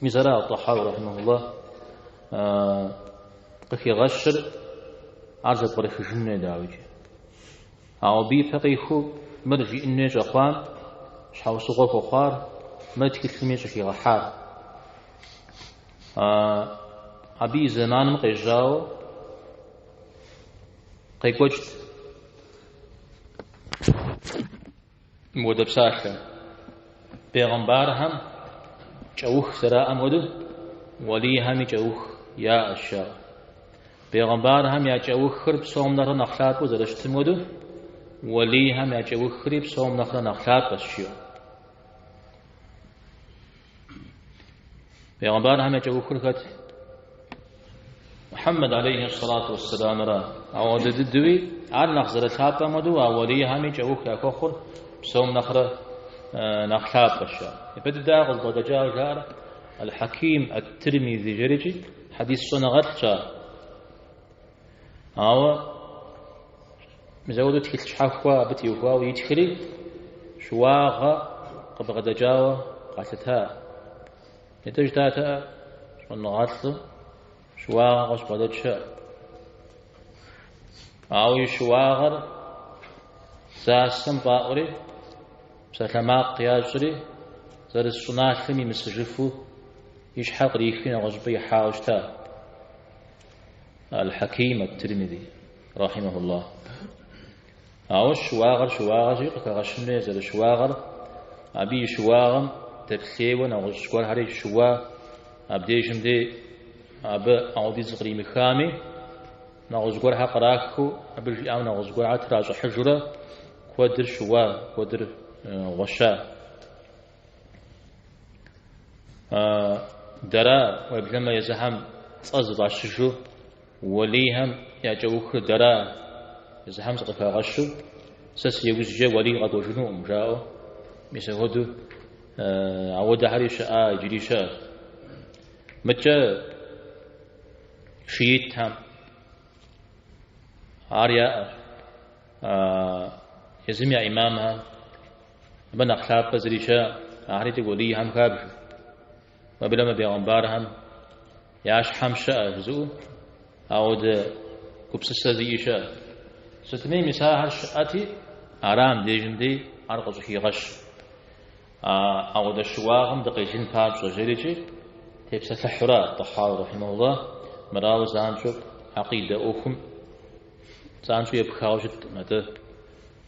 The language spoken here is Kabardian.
Мисара ат-Тӏахьауи рэхьимэхулла къыхигъэщыр ар зэпкърыхыжын хуей, дауикӏи. Ауэ абы ипэ къиху мыр жиӏын хуей щӏэхъуам щхьэусыгъуэ хуэхъуар мы тхылъыми щӏыхигъэхьар. Абы и зэманым къежьауэ къекӏуэкӏт. Мыуэдэ псалъэ. Бегъымбархэм кӏэух зэраӏэм хуэдэу, уэлийхэми кӏэух яӏэщ, жаӏэ. Бегъымбархэм я кӏэухыр псом нэхърэ нэхъ лъапӏэу зэрыщытым хуэдэу, уэлийхэм я кӏэухри псом нэхърэ нэхъ лъапӏэщ, жиӏэ. Бегъымбархэм я кӏэухыр хэт? Мухьэммэд алейхи салату вассаламра. Ауэдэ дыдуи ар нэхъ зэрылъапӏэм хуэдэу а уалийхэми кӏэух яхуэхъур псом нэхърэ нэхъ лъапӏэщ. Ипэ дыдэ къызбгъэдэкӏа жаӏэр Аль-Хьаким ат-Тирмизи жэрикӏи хьэдис щӏэныгъэлӏщ ар. Ауэ мис ауэду тхылъ щхьэхуэ абы теухуауэ итхри, щыуагъэ къыбгъэдэкӏауэ къалъыта. Итӏэ жытӏатэкъэ щӏэныгъэлӏым щыуагъэ къыщыбгъэдэкӏ щыӏэ. Ауэ и щыуагъэр засэм фӏаӏури, псалъэмакъ ящӏри, зэрыс щӏыналъэм имысыжыфу и щхьэр кърихри нэгъуэщӏыпӏэ ихьауэ щыта. Аль-Хьаким ат-Тирмизи, рахьимэхуллах. Ауэ щыуагъэр щыуагъэщи, къыхэгъэщын хуей зэрыщыуагъэр, абы и щыуагъэм дэплъейуэ нэгъуэщӏ гуэрхэри щыуа, абдежым дей абы ауэдиз къримыхами, нэгъуэщӏ гуэрхэр кърахыу, абы жиӏам нэгъуэщӏ гуэрхэр тращӏыхьыжурэ куэдыр щыуа, куэдыр гъуэща. Дэра уеблэмэ езыхэм цӏэ зыфӏащыжу уэлийхэм я кӏэухыр дэра езыхэм зыкъыхагъэщу сэ си ужькӏэ уэлий къэкӏуэжынукъым жаӏэу мис ахуэду ауэдэхэри щыӏа иджыри щыӏэщ. Мыкӏэ шиитхэм ар яӏэщ. Езым я имамхэм Абы нэхъ лъапӏэ зыри щыӏэ, ахэри итӏэ уэлийхэм хабжэ. Уеблэмэ бегъымбархэм я щхьэм щыӏэ жызыӏэу ауэдэ гупсысэ зиӏи щыӏэ. Сытми, мис ахэр щыӏэти, ара мыдежым дей ар къыщӏыхигъэщ. А ауэдэ щыуагъэм дыкъелын папщӏэ жэрикӏи, тепсэлъыхьу ара Тӏахьауи рахьимэхулла мыр ауэ занщӏэу акъидэ ӏуэхум занщӏэу епхауэ щыткъым. Атӏэ.